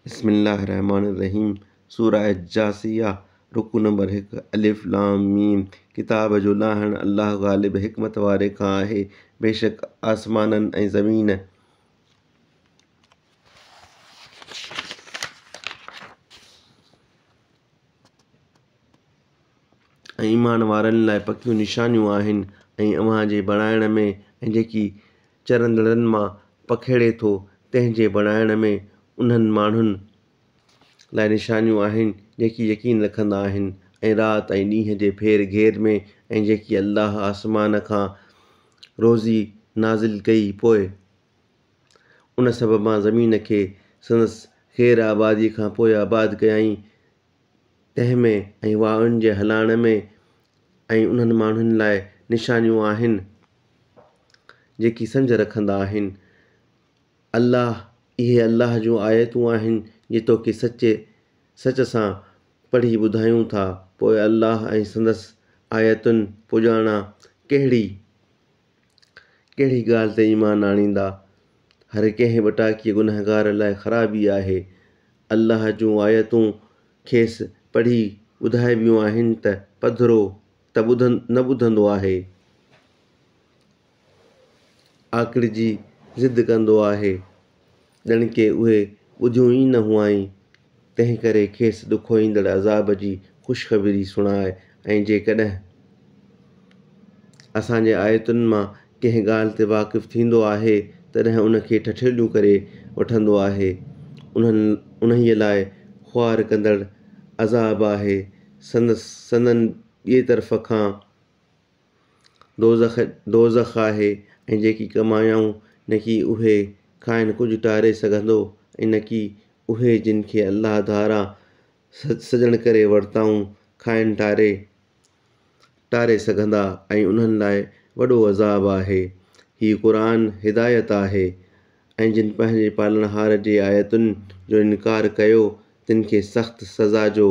بسم الله الرحمٰن الرحيم سورة الجاثية رڪوع نمبر هڪ الف لام ميم ڪتاب جو لاهڻ الله غالب حڪمت واري کان آهي بيشڪ آسمانن ۽ زمين ۽ ايمان وارن لاء پڪيون نشانيون آهن ۽ اوهان جي بڻائڻ ۾ ۽ جيڪي چرندڙن مان پکيڙي ٿو تنهن جي بڻائڻ ۾ انهن ماڻهن لاء نشانيون آهن جيڪي يقين رکندا آهن ۽ رات ۽ ڏينهن جي ڦير گهير ۾ ۽ جيڪي الله آسمان کان روزي نازل ڪئي پوء ان سببان زمين کي سندس خير آبادي کان پوء آباد ڪيائين تنهن ۾ ۽ واءن جي هلائڻ ۾ ۽ انهن ماڻهن لاء نشانيون آهن جيڪي سمجهه رکندا آهن. الله، اهي الله جون آيتون آهن جي توکي سچي سچ سان پڙهي ٻڌايون ٿا، پوء الله ۽ سندس آيتن پڄاڻان ڪهڙي؟ ڪهڙي ڳالهه تي ايمان آڻيندا؟ هر ڪنهن وٽاڪي گنهگار لاء خرابي آهي. الله جون آيتون کيس پڙهي ٻڌائبيون آهن ته پڌرو ته نه ٻڌندو آهي. آڪڙجي ضد ڪندو آهي. ڄڻڪه اهي ٻڌيون ئي نه هئائين، تنهنڪري کيس ڏکوئيندڙ عذاب جي خوشخبري سڻاء ۽ جيڪڏهن اسان جي آيتن مان ڪنهن ڳالهه تي واقف ٿيندو آهي تڏهن ان کي ٺٺيليون ڪري وٺندو آهي. انهن، انهيء لاء، خوار ڪندڙ عذاب آهي. سندس، سندن، ٻئي طرف کان دوزخ دوزخ آهي ۽ جيڪي ڪمايائون نڪي اهي کانئن ڪجهه ٽاري سگهندو ۽ نڪي اهي جن کي الله ڌاران سڄڻ ڪري ورتائون کانئن ٽاري ٽاري سگهندا ۽ انهن لاء وڏو عذاب آهي. هيء قرآن هدايت آهي ۽ جن پنهنجي پالڻهار جي آيتن جو انڪار ڪيو تن کي سخت سزا جو.